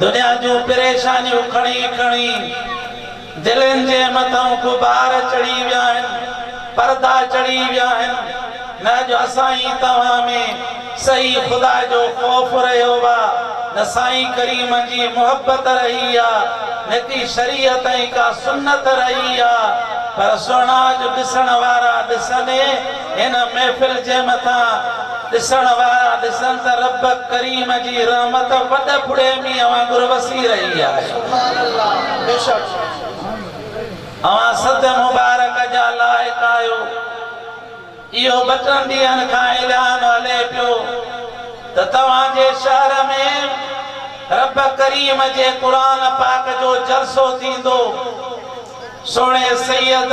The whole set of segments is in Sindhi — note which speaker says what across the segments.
Speaker 1: دنيا جون پريشانيون کڻي کڻي دلين جي مٿان غبار چڙهي ويا آهن، پردا چڙهي ويا آهن، نه اڄ اسان ۽ توهان ۾ صحيح خدا جو خوف رهيو آ، نه سائين ڪريم جي محبت رهي آ، نه ڪي شريعت ۽ ڪا سنت رهي آ، پر سهڻا اڄ ڏسڻ وارا ڏسن. هن محفل جي مٿان ڏسڻ وارا ڏسن ته رب ڪريم جي رحمت وڏ ڦڙي مينهن وانگر وسي رهي آهي. اوهان سڌ مبارڪ جا لائق آهيو. اهو ٻه ٽن ڏينهن کان اعلان هلي پيو ته توهان جي شهر ۾ رب ڪريم جي قرآن پاڪ جو جلسو ٿيندو. سهڻي سيد.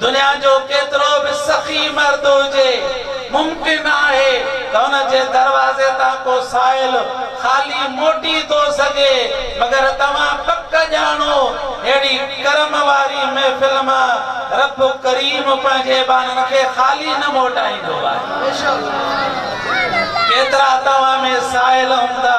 Speaker 1: دنيا جو ڪيترو به سخي مرد هجي، ممڪن آهي ته ان جي دروازي تان ڪو سائل خالي موٽي ٿو سگهي، مگر توهان پڪ ڄاڻو، ههڙي ڪرم واري محفل مان رب ڪريم پنهنجي ٻانهن کي خالي نه موٽائيندو آهي. ڪيترا توهان ۾ سائل هوندا.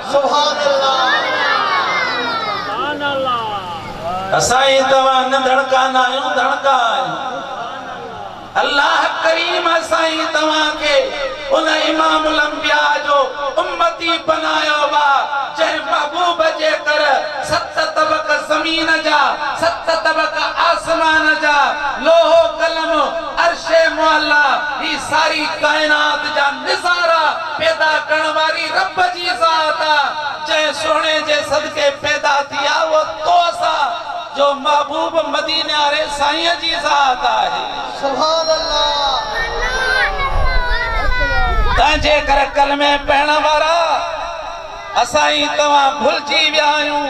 Speaker 1: سبحان الله اسان ۽ توهان نه ڌڻڪا نه آهيون ڌڻڪا آهيون الله ڪريم اسان ۽ توهان کي ان امام الانبياء جو امتي بنايو وا جنهن محبوب جي در ست طبق زمين جا ست طبق آسمان جا لوح قلم عرش معليٰ هي ساري ڪائنات جا نظارا پيدا ڪرڻ واري رب جي ذات آ جنهن سهڻي جي صدقي پيدا ٿي آ اهو توس آ جو محبوب مديني واري سائين جي ذات آهي. تنهن جي ڪري ڪلمي پڙهڻ وارا اسان ئي توهان ڀلجي ويا آهيون.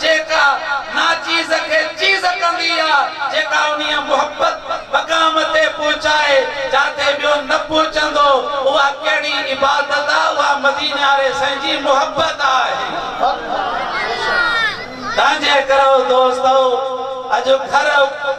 Speaker 1: جيڪا ناچيز کي چيز ڪندي آ، جيڪا انهيء محبت مقام تي پهچائي، جاتي ٻيو نه پهچندو، اها ڪهڙي عبادت آ، اها مديني واري سائين جي محبت آهي. تنهنجي ڪرو دوستؤ! اڄ گهر.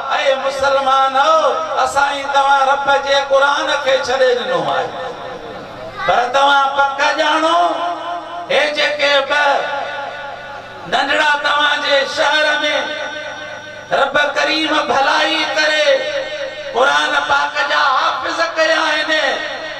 Speaker 1: اي مسلمانؤ! اسان ئي توهان رب جي قرآن کي ڇڏي ڏنو آهي، پر توهان پڪ ڄاڻو، هي جيڪي ٻه ننڍڙا توهان جي شهر ۾، رب ڪريم ڀلائي ڪري، قرآن پاڪ جا حافظ ڪيا آهن،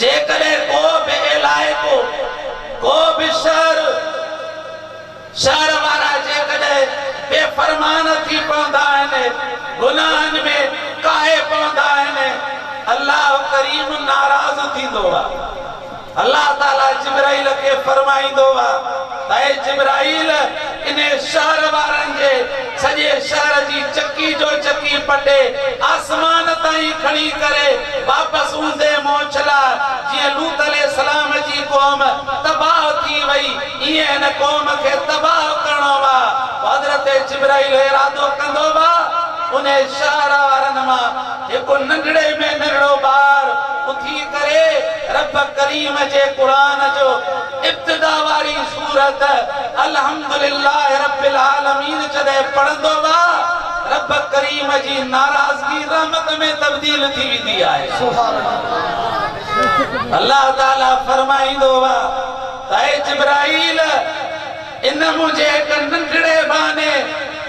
Speaker 1: جيڪڏهن ڪو به علائقو، ڪو به شهر، شهر وارا جيڪڏهن بي فرمان ٿي پوندا آهن، گناهن ۾ ڪاهي پوندا آهن، الله ڪريم ناراض ٿيندو آهي. الله تعالي جبرائيل کي فرمائيندو آهي. اي جبرائيل! انهي شهر وارن جي سڄي شهر جي چڪي جو چڪي پٽي آسمان تائين کڻي ڪري واپس اوندهي منهن ڇلا، جيئن لوط عليه السلام جي قوم تباهه ٿي وئي، ايئن هن قوم کي تباهه ڪرڻو هئا. پوء حضرت جبرائيل ارادو ڪندو هئا، انهي شهر وارن مان هڪ ننڍڙي ۾ ننڍڙو ٻار اٿي ڪري رب ڪريم جي قرآن جو. ابتدا واري سورت الحمد لله رب العالمين جڏهن پڙهندو وا رب ڪريم جي ناراضگي رحمت ۾ تبديل ٿي ويندي آهي الله تعالي فرمائيندو وا ته اي جبرائيل! ان منهنجي هڪ ننڍڙي ٻانهي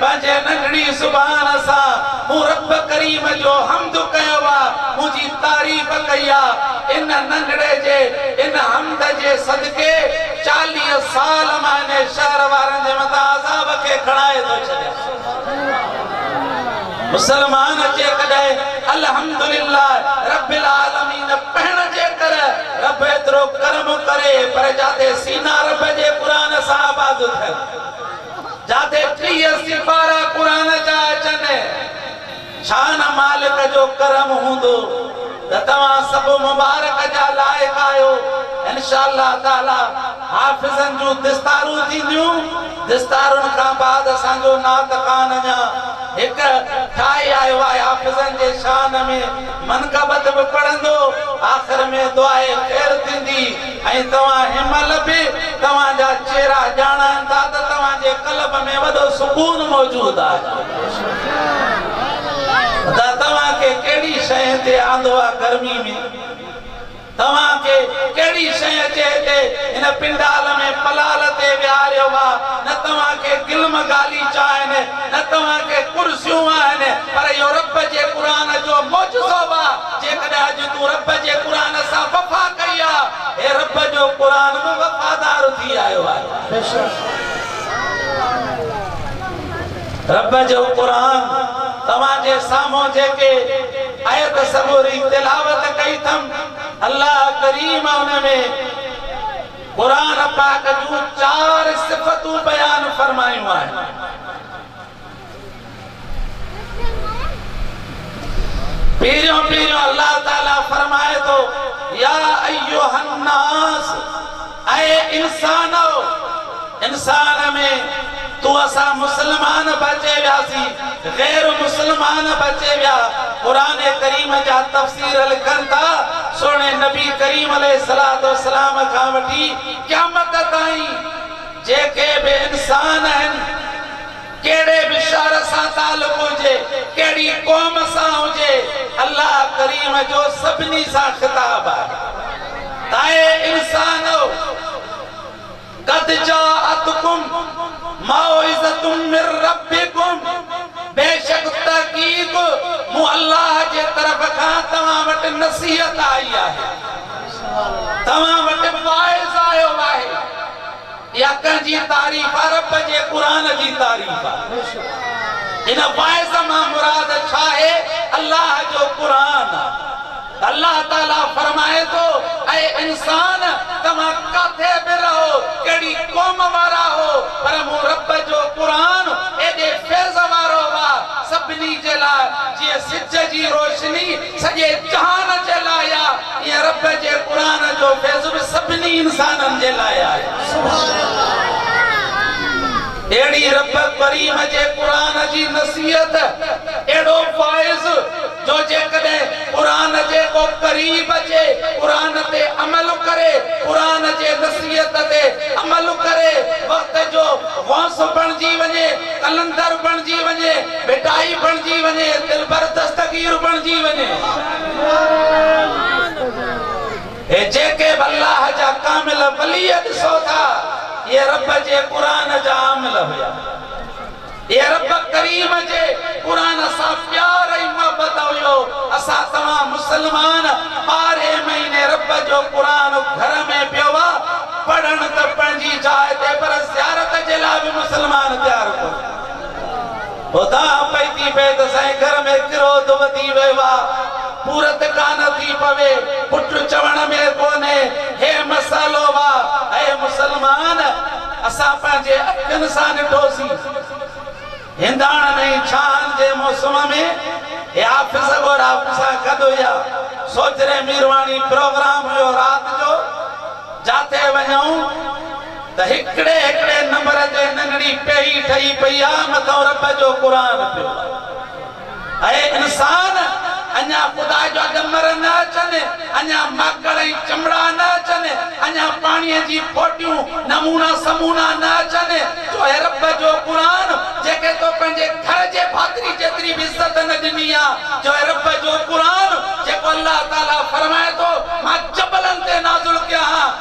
Speaker 1: پنهنجي ننڍڙي زبان سان مون رب ڪريم جو حمد ڪيو آ، منهنجي تعريف ڪئي آ. ان ننڍڙي جي ان حمد جي صدقي چاليهه سال مان انهي شهر وارن جي مٿان عذاب کي کڻائي ٿو ڇڏيان. مسلمان جيڪڏهن الحمدلله رب العالمين پڙهڻ جي ڪر رب ايترو ڪرم ڪري پر جاتي سينا رب جي قرآن سان آباد ٿين جاتي ٽيهه سيپارا قرآن جا اچن شان مالڪ جو ڪرم هوندو ته توهان سڀ مبارڪ جا لائق آهيو انشاء الله تعالي حافظن جون دستارون ٿينديون دستارن کان بعد اسان جو نعت خوان اڃا هڪ ٺاهي آيو آهي حافظن جي شان ۾ منقبت به پڙهندو آخر ۾ دعائي خير ٿيندي. ۽ توهان هن مهل به توهان جا چهرا ڄاڻان ٿا ته توهان جي قلب ۾ وڏو سڪون موجود آهي خدا توهان کي ڪهڙي شئي تي آندو آهي گرمي ۾ توهان کي ڪهڙي شئي اچي هتي هن پنڊال ۾ پلال تي ويهاريو وا نه توهان کي گلم غاليچا آهن نه توهان کي ڪرسيون آهن پر اهو رب جي قرآن جو معجزو وا. جيڪڏهن اڄ تون رب جي قرآن سان وفا ڪئي آ، هي رب جو قرآن به وفادار ٿي آيو آهي. رب جو قرآن توهان جي سامهون جيڪي آيت سڳوري تلاوت ڪئي ٿم، الله ڪريم ان ۾ قرآن پاڪ جون چار صفتون بيان فرمايون آهن. پهريون پهريون الله تعالي فرمائي ٿو، يا ايها الناس، اي انسانؤ! انسان ۾ تون اسان مسلمان به اچي وياسين، غير مسلمان به اچي ويا، قرآن ڪريم جا تفسير لکن ٿا، سهڻي نبي ڪريم عليه الصلوة والسلام کان وٺي قيامت تائين، جيڪي به انسان آهن، ڪهڙي به شهر سان تعلق هجي، ڪهڙي قوم سان هجي، الله ڪريم جو سڀني سان خطاب آهي ته اي انسانؤ! قد جاءتڪم موعظة من ربکم بيشڪ تحقيق مون الله جي طرف کان توهان وٽ نصيحت آئي آهي، توهان وٽ واعظ آيو آهي. اها ڪنهن جي تعريف آ رب جي قرآن جي تعريف آ ان واعظ مان مراد ڇاهي الله جو قرآن آ الله تعالي فرمائي ٿو اي انسان توهان ڪاٿي به رهو ڪهڙي قوم وارا هو پر مون رب جو قرآن ايڏي فيض وارو آ سڀني جي لاء جيئن سج جي روشني سڄي جهان جي لاء آ، ايئن رب جي قرآن جو فيض به سڀني انسانن جي لاء آهي. اهڙي رب ڪريم جي قرآن جي نصيحت اهڙو فائض جو جيڪڏهن قرآن جي ڪو قريب اچي، قرآن تي عمل ڪري، قرآن جي نصيحت تي عمل ڪري، وقت جو غوث بڻجي وڃي، قلندر بڻجي وڃي، ڀٽائي بڻجي وڃي، دلبر دستگير بڻجي وڃي. هي جيڪي به الله جا ڪامل ولي ڏسو ٿا، اهي رب جي قرآن جا عامل هيا. اهي رب ڪريم جي قرآن سان پيار ۽ محبت هيو. اسان توهان مسلمان ٻارهين مهيني رب جو قرآن گهر ۾ پيو آ پڙهڻ ته پنهنجي جاء تي پر زيارت جي لاء به مسلمان تيار ڪونهي. اداهه پئي ٿي پئي ته سائين گهر ۾ ڪروڌ وڌي ويو آ. پورت ڪانه ٿي پوي. پٽ چوڻ ۾ ڪونهي. هي مسئلو آ. اي مسلمان! اسان پنهنجي اکين سان ڏٺوسين. هنداڻن ۽ ڇانهن جي موسم ۾ هي آفيس ڳورا پسا گڏ هيا. سوجهري ميرواڻي پروگرام هيو رات جو. جاٿي وڃئون. ته هڪڙي هڪڙي نمبر تي ننڍڙي پيهي ٺهي پئي آ مٿان رب جو قرآن پيو آ اي انسان اڃا خدا جو اڳمر نه اچن اڃا ماڪڙ ۽ چمڙا نه اچن اڃا پاڻي جي ڦوٽيون نمونا سمونا نه اچن جو اي رب جو قرآن جيڪي تو پنهنجي گهر جي ڀاتري جيتري به عزت نه ڏني آ جو اي رب جو قرآن جيڪو الله تعالي فرمائي ٿو مان جبلن تي نازل ڪيا ها.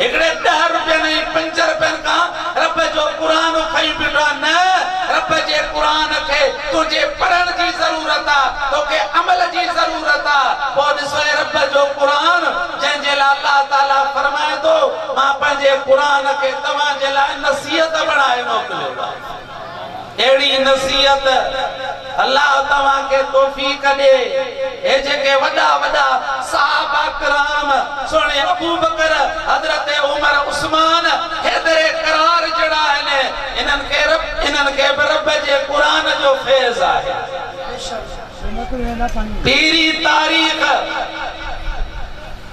Speaker 1: هڪڙي ڏهه رپين ۽ پنج رپين کان رب جو قرآن کئي بيٺا نه رب جي قرآن کي تنهنجي پڙهڻ جي ضرورت آ توکي عمل جي ضرورت آ پوء ڏسو اي رب جو قرآن جنهن جي لاء الله تعالي فرمائي ٿو مان پنهنجي قرآن کي توهان جي لاء نصيحت بڻائي موڪليو آ. اهڙي نصيحت الله توهان کي توفيق ڏي هي جيڪي وڏا وڏا صحابه ڪرام سهڻي ابوبڪر حضرت عمر عثمان حيدر ڪرار جهڙا آهن انهن کي رب انهن کي به رب جي قرآن جو فيض آهي پيري تاريخ.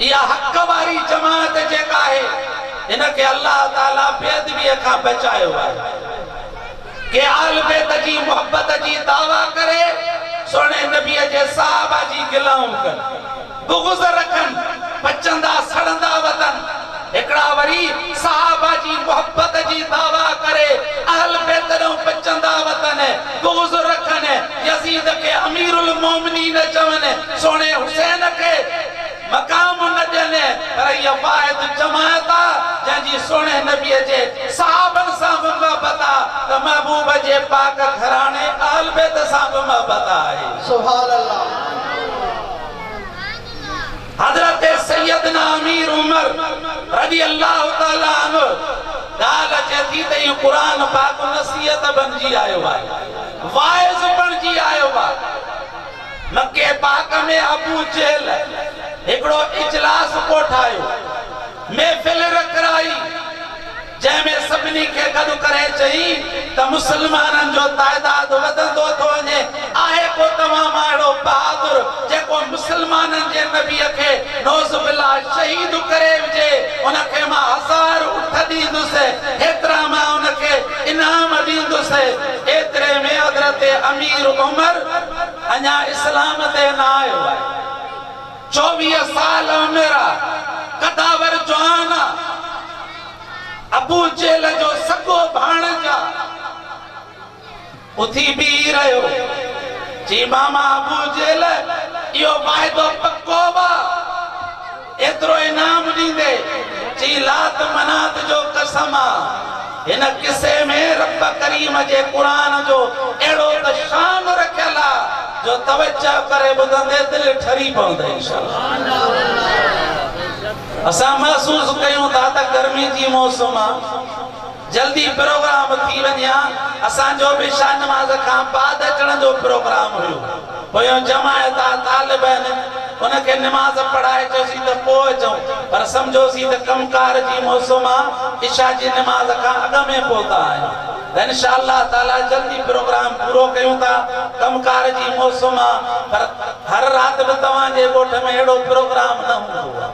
Speaker 1: اها حق واري جماعت جيڪا آهي ان کي الله تعالي بي ادبيء کان بچايو آهي. ڪي آل بيت جي محبت جي دعويٰ ڪري سهڻي نبيء جي صحابه جي گلائون ڪن، بغض رکن، پچندا سڙندا وتن. هڪڙا وري صحابه جي محبت جي دعويٰ ڪري اهل بيت ڏانهن به چندا وتن، بغض رکن، يزيد کي امير المومنين چون، سهڻي حسين کي مقام نه ڏين، پر هيء واحد جماعت آ، جنهن جي سهڻي نبيء جي صحابن سان به محبت آ ته محبوب جي پاڪ گهراڻي اهل بيت سان به محبت آهي. سبحان الله. حضرت سيدنا امير عمر رضي الله تعالٰي عنه ڳالهه اچي ٿي ته اهو قرآن پاڪ نصيحت بڻجي آيو آهي، واعظ بڻجي آيو آهي. مڪي پاڪ ۾ ابو جهل هڪڙو اجلاس ڪوٺايو، محفل رکرائي. جنهن ۾ سڀني کي گڏ ڪري چئي ته مسلمانن جو تعداد وڌندو ٿو وڃي، آهي ڪو توهان مان اهڙو بهادر جيڪو مسلمانن جي نبيء کي نعوذ بالله شهيد ڪري وجهي، ان کي مان هزار اٺ ڏيندس، هيترا مان ان کي انعام ڏيندس. ايتري ۾ حضرت امير عمر اڃا اسلام تي نه آيو. چوويهه سال عمر آ، قداور جوان آ، ابو جهل جو سڳو ڀاڻج آ. اٿي بيهي رهيو، چي ماما ابو جهل اهو واعدو پڪو آ، ايترو انعام ڏيندي، چي لات منات جو قسم آ. هن قصي ۾ رب ڪريم جي قرآن جو اهڙو ته شان رکيل آ جو توجه ڪري ٻڌندي دل ٺري پوندي انشاء الله اسان محسوس ڪيون ٿا ته گرمي جي موسم آ جلدي پروگرام ٿي وڃي ها اسان جو به شاهنواز کان بعد اچڻ جو پروگرام هيو. پويان جماعت آ طالبين ان کي نماز پڙهائجوسي ته پوء اچون پر سمجهوسي ته ڪم ڪار جي موسم آ عشاء جي نماز کان اڳ ۾ پهتا آهيون ته انشاء الله تعاليٰ جلدي پروگرام پورو ڪيون ٿا ڪم ڪار جي موسم آ پر هر رات به توهان جي ڳوٺ ۾ اهڙو پروگرام نه هوندو آ.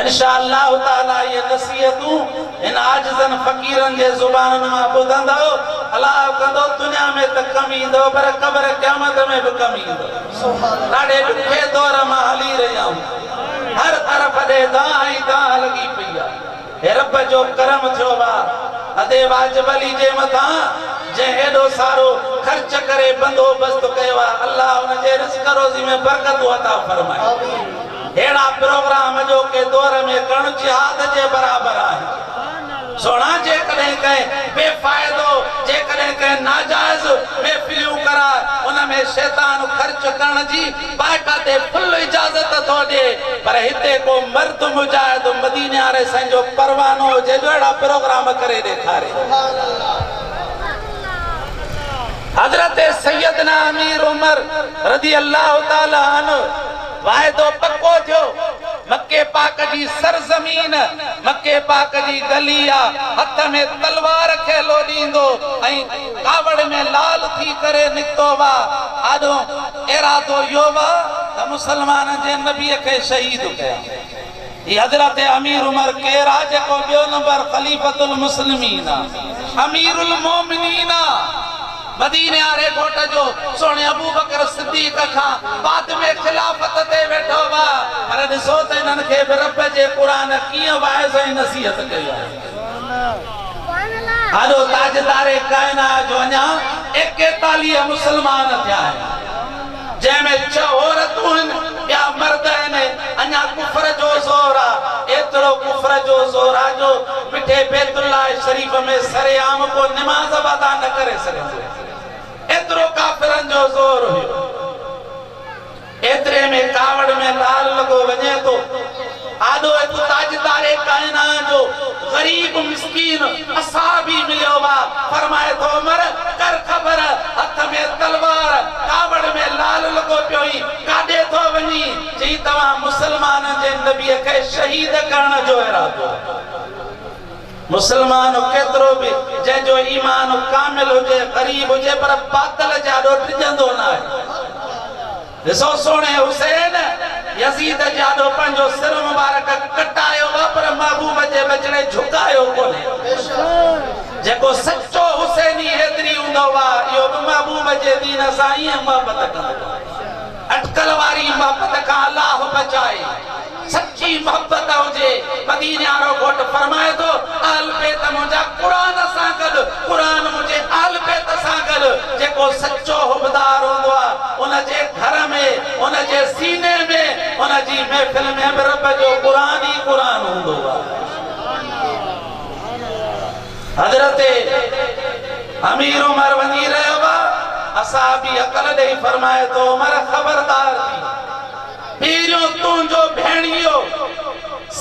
Speaker 1: انشاء الله تعالٰي اهي نصيحتون هن عاجزن فقيرن جي زبانن مان ٻڌندؤ، الاهو ڪندو دنيا ۾ ته ڪم ايندؤ پر قبر قيامت ۾ به ڪم ايندؤ. ڏاڍي ڏکي دور مان هلي رهيا آهيون. هر طرف اڏي دانهن ئي دانهن لڳي پئي آهي. هي رب جو ڪرم ٿيو وا ادي واجب علي جي مٿان جنهن ايڏو سارو خرچ ڪري بندوبست ڪيو آهي الله ان جي رزق روزي ۾ برڪتون عطا فرمائي. اهڙا پروگرام اڄوڪي دور ۾ ڪڻ جهاد جي برابر آهن. سهڻا جيڪڏهن ڪنهن بي فائدو، جيڪڏهن ڪنهن ناجائز محفليون ڪرائي ان ۾ شيطان خرچ ڪرڻ جي باقاعدي فل اجازت ٿو ڏئي پر هتي ڪو مرد مجاهد مديني واري سائين جو پروانو هجي جو اهڙا پروگرام ڪري ڏيکاري. حضرت سيدنا امير عمر رضي الله تعالٰي عنه. واعدو پڪو ٿيو، مڪي پاڪ جي سرزمين، مڪي پاڪ جي گلي آ، هٿ ۾ تلوار کي لوڏيندو ۽ ڪاوڙ ۾ لال ٿي ڪري نڪتو وا، آڏو ارادو اهو وا ته مسلمانن جي نبي کي شهيد ڪيان. هي حضرت امير عمر ڪير آ جيڪو ٻيو نمبر خليفة المسلمين آ امير المومنين آ مديني واري ڳوٺ جو سهڻي ابوبڪر صديق کان بعد ۾ خلافت تي ويٺو آ پر ڏسو ته انهن کي به رب جي قرآن ڪيئن واعظ ۽ نصيحت ڪئي آهي. آڏو تاجدار ڪائنات جو اڃا ايڪيتاليهه مسلمان ٿيا آهن. جنهن ۾ ڇهه عورتون هن، ٻيا مرد هن، اڃا ڪفر جو زور آ، ايترو ڪفر جو زور آ جو مٺي بيت الله شريف ۾ سر عام ڪو نماز به ادا نه ڪري سگهندو، ايترو ڪافرن جو زور هيو. ايتري ۾ ڪاوڙ ۾ لال لڳو وڃي ٿو. آڏو هڪ تاجدار ڪائنات جو غريب مسڪين اصحابي مليو وا فرمائي ٿو عمر! ڪر خبر، هٿ ۾ تلوار، ڪاوڙ ۾ لعل لڳو پيو هي، ڪاڏي ٿو وڃي؟ چيائين توهان مسلمانن جي نبيء کي شهيد ڪرڻ جو ارادو رکو ٿا. مسلمان ڪيترو به جنهن جو ايمان ڪامل هجي، غريب هجي پر باطل جي آڏو ڊڄندو ناهي. ڏسو سهڻي حسين! يزيد جي آڏو پنهنجو سر مبارڪ ڪٽايو ها پر محبوب جي وچڙي جهڪايو ڪونهي. جيڪو سچو حسيني حيدري هوندو ها اهو به محبوب جي دين سان ائين محبت ڪندو ها. اٽڪل واري محبت کان الله بچائي. سچي محبت هجي، مديني وارو گهوٽ فرمائي ٿو، اهل بيت منهنجا قرآن سان گڏ، قرآن منهنجي اهل بيت سان گڏ، جيڪو سچو حبدار هوندو آهي، ان جي گهر ۾، ان جي سيني ۾، ان جي محفل ۾ به رب جو قرآن ئي قرآن هوندو آهي. حضرت امير عمر وڃي رهيو آهي، اصحابي عقل ڏئي فرمائي ٿو، عمر خبردار ٿي! پهريون تنهنجو ڀيڻيو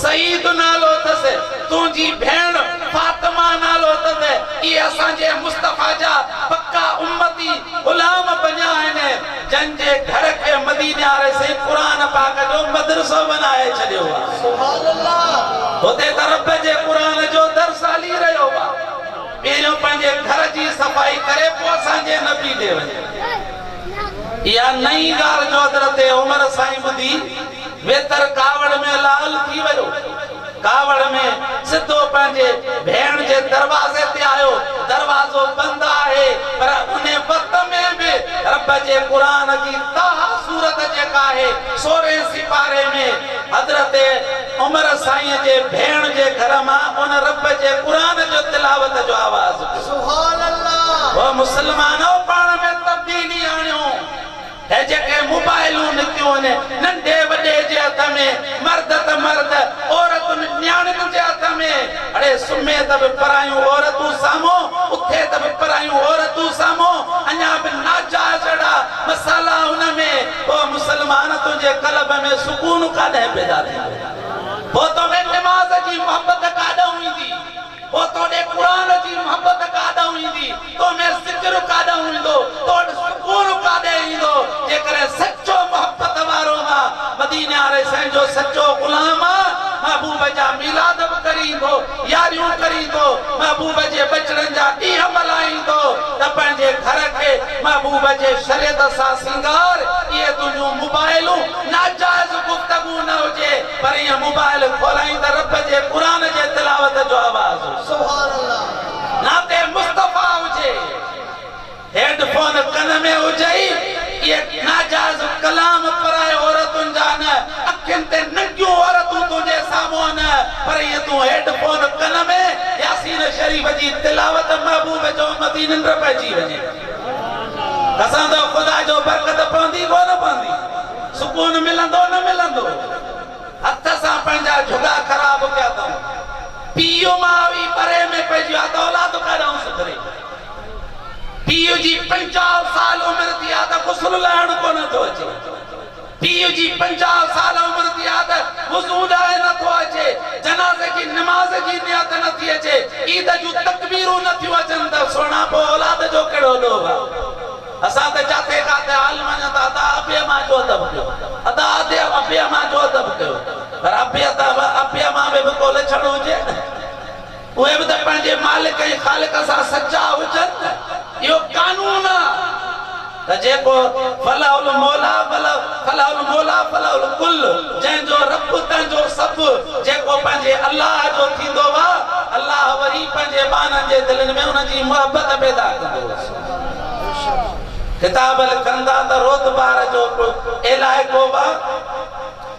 Speaker 1: سعيد نالو اٿس، تنهنجي ڀيڻ فاطمه نالو اٿس، اهي اسان جي مصطفيٰ جا پڪا امتي، غلام، بنيا آهن، جن جي گهر کي مديني واري سائين قرآن پاڪ جو مدرسو بنائي ڇڏيو آ. هتي ته رب جي قرآن جو درس هلي رهيو آ. پهريون پنهنجي گهر جي صفائي ڪري پوء اسان جي نبي ڏي وڃ. اها نئين ڳالهه جو حضرت عمر سائين ٻڌي ويتر ڪاوڙ ۾ لعل ٿي ويو. ڪاوڙ ۾ سڌو پنهنجي ڀيڻ جي دروازي تي آيو، دروازو بند آهي پر ان وقت ۾ به رب جي قرآن جي طٰه سورت جيڪا آهي سورهين سيپاري ۾، حضرت عمر سائين جي ڀيڻ جي گهر مان ان رب جي قرآن جو تلاوت جو آواز پيو سبحان الله. او مسلمانو پاڻ ۾ تبديلي آڻيو هي جيڪي موبائلون نڪيون آهن ننڍي وڏي جي هٿ ۾ مرد ته مرد عورتن نياڻين جي هٿ ۾ اڙي سمهي ته به پرايون عورتون سامهون اٿي ته به پرايون عورتون سامهون اڃا به ناجائز اهڙا مسئلا ان ۾ پوء مسلمان تنهنجي قلب ۾ سڪون ڪاڏانهن پيدا ٿيندو؟ پوء تو ۾ نماز جي محبت ڪاڏانهن ايندي؟ پوء تو ڏي قرآن جي محبت ڪاڏانهن ايندي؟ تو ۾ ذڪر ڪاڏانهن ايندو؟ تو وٽ سڪون ڪاڏي ايندو؟ جيڪڏهن سچو محبت وارو مان مديني واري سائين جو سچو غلام آن، محبوب جا ميلاد به ڪري ايندو، ياريون ڪريندو، محبوب جي ٻچڙن جا ڏينهن ملهائيندو ته پنهنجي گهر کي محبوب جي شريعت سان سينگار، اهي تنهنجون موبائلون ناجائز گفتگو نه هجي پر ائين موبائل کولائين ته رب جي قرآن جي تلاوت جو آواز هجي. نعت مصطفيٰ هجي. هيڊ فون ڪن ۾ هجئي، اهي ناجائز ڪلام پرائي عورتن جا نه، اکين تي ننگيون عورتون تنهنجي سامهون نه، پر ايئن تون هيڊ فون ڪن ۾ ياسين شريف جي تلاوت محبوب جو مٿي ننڊ پئجي وڃي. قسم اٿو خدا جو برڪت پوندي ڪونه پوندي، سڪون ملندو نه ملندو. هٿ سان پنهنجا جهڳا خراب ڪيا اٿئون. پيء ماء ئي پري ۾ پئجي ويا ته اولاد ڪاڏانهون سڌري. پيء جي پنجاهه سال عمر ٿي آ ته غسل لاهڻ ڪونه ٿو اچي. پيء جي پنجاهه سال عمر ٿي آ ته وضو لاهي نه ٿو اچي. جنازي جي نماز جي نيت نه ٿي اچي. عيد جون تڪبيرون نه ٿيون اچن ته سهڻا پوء اولاد جو ڪهڙو ڏوهه آ. اسان ته جاٿي ڪاٿي حال مڃون ته ادا ابي امان جو ادب ڪيو. ادا ادي ابي امان جو ادب ڪيو. پر ابي ادا ابي امان ۾ به ڪو لڇڻ هجي نه. اهي به ته پنهنجي مالڪ ۽ خالق سان سچا هجن ته اهو قانون آ ته جيڪو فله الموليٰ فله فله الموليٰ فله الڪل جنهن جو رب تنهن جو سڀ جيڪو پنهنجي الله جو ٿيندو هو الله وري پنهنجي ٻانهن جي دلين ۾ ان جي محبت پيدا ڪندو هو سبحان ڪتاب لکندا ته روت بار جو ڪو علائقو هو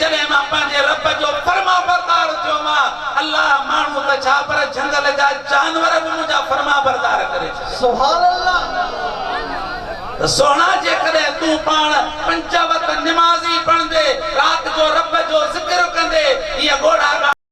Speaker 1: جڏهن مان پنهنجي رب جو فرمانبردار ٿيو مان، الله، ماڻهو ته ڇا پر جهنگل جا جانور به منهنجا فرمانبردار ڪري ڇڏيا. سبحان الله! ته سهڻا جيڪڏهن تون پاڻ پنج وقت نمازي بڻجي رات جو رب جو ذڪر ڪندي هيء ڳوڙها ڳاڙهه.